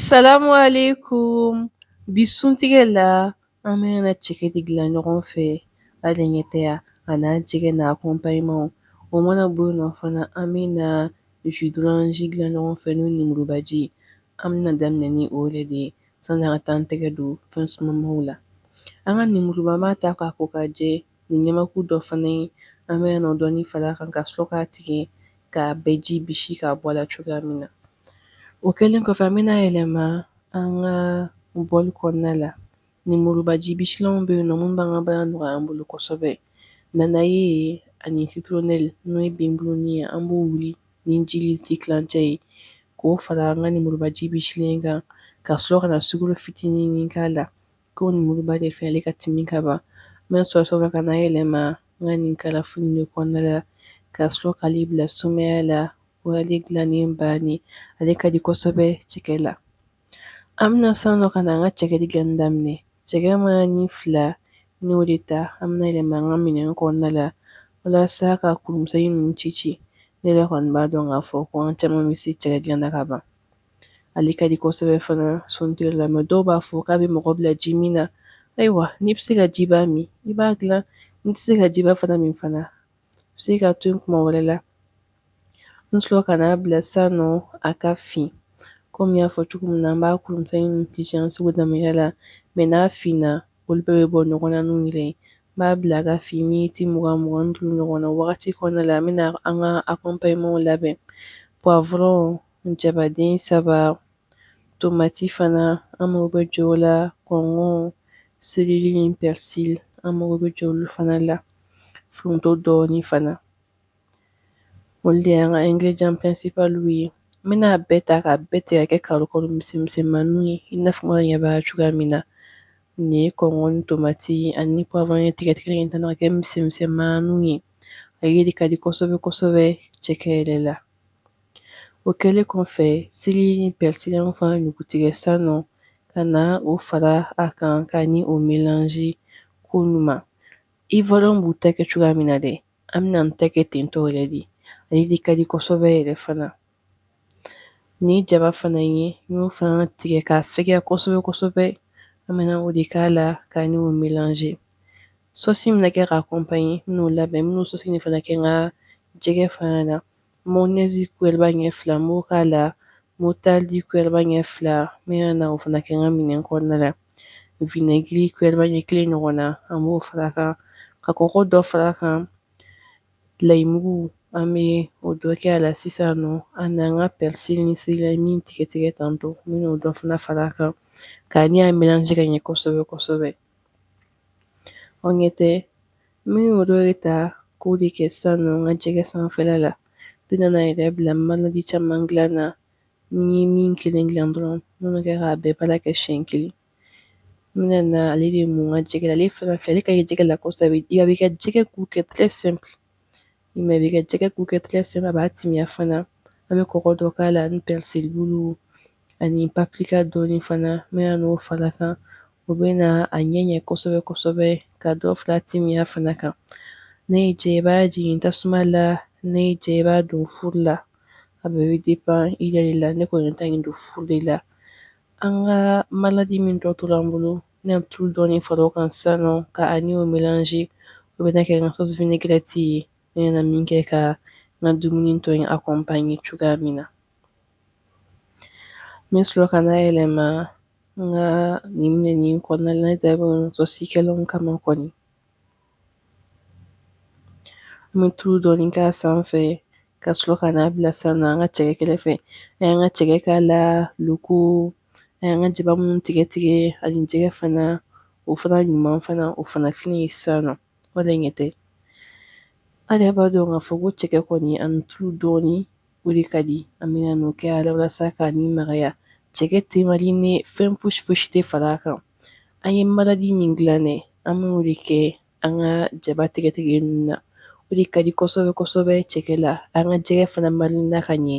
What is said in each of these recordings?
Salamu alaikum bi suntigɛ la an bɛna cɛkɛ de dilan ɲɔgɔn fɛ a denkɛtɛya a n'a jɛgɛ n'a accompagnements o mana bɔ yen nɔ fana an bɛna jus d'orange dilan ɲɔgɔn fɛ n'o nimurubaji ye an bɛna daminɛ ni o yɛrɛ de ye sanni an ka taa an tɛgɛ don fɛn sumamaw la an ka nimuruba an b'a ta k'a ko ka jɛ Ni ɲamaku dɔ fana ye, an bɛna o dɔɔni fara a kan ka sɔrɔ k'a tigɛ k'a bɛɛ ji bisi k'a bɔ a la cogoya min na. O kɛlen kɔfɛ, an bɛna yɛlɛma an ka bɔli kɔnɔna la. Lemuruba ji bisilanw bɛ yen nɔ minnu b'an ka baara nɔgɔya an bolo kosɛbɛ. Nanaye ani citronnelle n'o ye binbuluni ye, an b'o wuli ni ji litiri tilancɛ ye k'o fara an ka lemuruba ji bisilen kan, ka sɔrɔ ka na sukaro fitinin k'a la ko nimuruba de fɛ ale ka timi ka ban n bɛ sɔrɔ ka na yɛlɛma n ka nin carafe de kɔnɔna la ka sɔrɔ k'ale bila sumaya la o y'ale dilannen bannen ale ka di kosɛbɛ cɛkɛ la an bɛna san nɔ ka na an ka cɛkɛ dilanni daminɛ cɛkɛ mana fila n y'o de ta an bɛna yɛlɛma an ka minɛn kɔnɔna la walasa ka kuru misɛn ninnu ci ci ne yɛrɛ kɔni b'a dɔn k'a fɔ ko an caman bɛ se cɛkɛ dilanna ka ban ale ka di kosɛbɛ fana suntigɛ la mɛ dɔw b'a fɔ k'a bɛ mɔgɔ bila ji min na ayiwa n'i bɛ se ka jiba min i b'a dilan n'i tɛ se ka jiba fana min fana i bɛ se k'a to tuma wɛrɛ la n sɔrɔ ka n'a bila san nɔ a ka fin kɔmi n y'a fɔ cogo min na an b'a kuru misɛnnin ci an seko da la mɛ n'a finna olu bɛɛ bɛ bɔ ɲɔgɔn na n'u yɛrɛ ye n b'a bila a ka fin miniti mugan mugan ni duuru ɲɔgɔn na wagati kɔnɔna la an bɛna an ka accompagnements labɛn poivron jabaden saba, tomati fana an mago bɛ jɔ o la, kɔnkɔn, céleri ni persil an mago bɛ jɔ olu fana la, foronto dɔɔni fana. Olu de y'an ka ingrédients principaux ye. N bɛna a bɛɛ ta k'a bɛɛ tigɛ ka kɛ karo karo misɛn misɛnmaninw ye i n'a fɔ n ɲɛ b'a cogoya min na. Nin ye kɔnkɔn ni tomati ani poivron tigɛ tigɛlen ye tan ka kɛ misɛn misɛnmaninw ye. Ale de ka di kosɛbɛ kosɛbɛ cɛkɛ yɛrɛ la. O kɛlen kɔfɛ céleri ni persil n y'a fana ɲugutigɛ san nɔ ka na o fara a kan ka ni o mélanger ko ɲuman Ivoirienw b'u ta kɛ cogoya min na dɛ an bɛna an ta kɛ ten tɔ yɛrɛ de ale de ka di kosɛbɛ yɛrɛ fana ni jaba fana ye n y'o fana tigɛ k'a fɛgɛya kosɛbɛ kosɛbɛ an bɛna o de k'a la ka ni o mélanger Sɔsi min bɛna kɛ k'a accompagner n bɛn'o labɛn n bɛn'o sɔsi nin fana kɛ n ka jɛgɛ fana na mayonnaise kuyɛriba ɲɛ fila n b'o k'a la moutarde kuyɛriba ɲɛ fila n bɛna o fana kɛ n ka minɛn kɔnɔna la vinɛgiri kuyɛriba ɲɛ kelen ɲɔgɔn na an b'o fara kan ka kɔgɔ dɔ fara kan layimugu an bɛ o dɔ kɛ a la sisan nɔ an n'an ka pɛrisi ni seleri min tigɛtigɛ tantɔ n bɛna o dɔ fana fara kan ka ni a melange ka ɲɛ kosɛbɛ kosɛbɛ O ɲɛ tɛ n bɛ o dɔ de ta k'o de kɛ sisan nɔ n ka jɛgɛ sanfɛla la n bɛna n yɛrɛ bila marinade caman dilan na n ye min kelen dilan dɔrɔn n bɛn'o kɛ k'a bɛɛ baara kɛ siyɛn kelen n bɛna na ale de mun n ka jɛgɛ la ale fana fɛ ale ka ɲi jɛgɛ la kosɛbɛ a b'i ka jɛgɛ goût kɛ très simple I m'a ye a b'i ka jɛgɛ goût kɛ très simple a b'a timiya fana an bɛ kɔgɔ dɔ k'a la ni pɛrisibulu ani paprika dɔɔni fana n bɛna n'o fara kan o bɛna a ɲɛ ɲɛ kosɛbɛ kosɛbɛ ka dɔ fara a timiya fana kan n'a y'i diya i b'a jigin tasuma la n'a y'i diya i b'a don furu la a bɛɛ bɛ dépend i yɛrɛ la ne kɔni ta in don furu de la an ka marinade min tɔ tora an bolo N bɛna tulu dɔɔni fara o kan sisan nɔ ka a ni o melange o bɛna kɛ n ka sauce vinaigrette ye n bɛna min kɛ ka n ka dumuni tɔ in accompagner cogoya min na n bɛ sɔrɔ ka n'a yɛlɛma n ka nin minɛn nin kɔnɔna la ne dabɔ sauce kɛlanw kama kɔni An bɛ tulu dɔɔni k'a sanfɛ ka sɔrɔ ka n'a bila sisan nɔ an ka cɛkɛ kɛrɛfɛ an y'an ka cɛkɛ k'a la loko an y'an ka jaba minnu tigɛ tigɛ ani jɛgɛ fana o fana ɲuman fana o fana filɛ nin ye sisan nɔ voilà ɲɛ tɛ ale b'a dɔn k'a fɔ ko cɛkɛ kɔni ani tulu dɔɔni O de ka di an bɛna n'o kɛ a la walasa ka n'a magaya cɛkɛ tɛ mariner fɛn foyisi foyisi tɛ fara kan an ye marinade min dilan dɛ an b'o de kɛ an ka jaba tigɛtigɛ ninnu na o de ka di kosɛbɛ kosɛbɛ cɛkɛ la an ka jɛgɛ fana mariner ka ɲɛ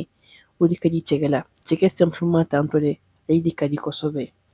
o de ka di cɛkɛ la cɛkɛ simplement tantɔ dɛ ale de ka di kosɛbɛ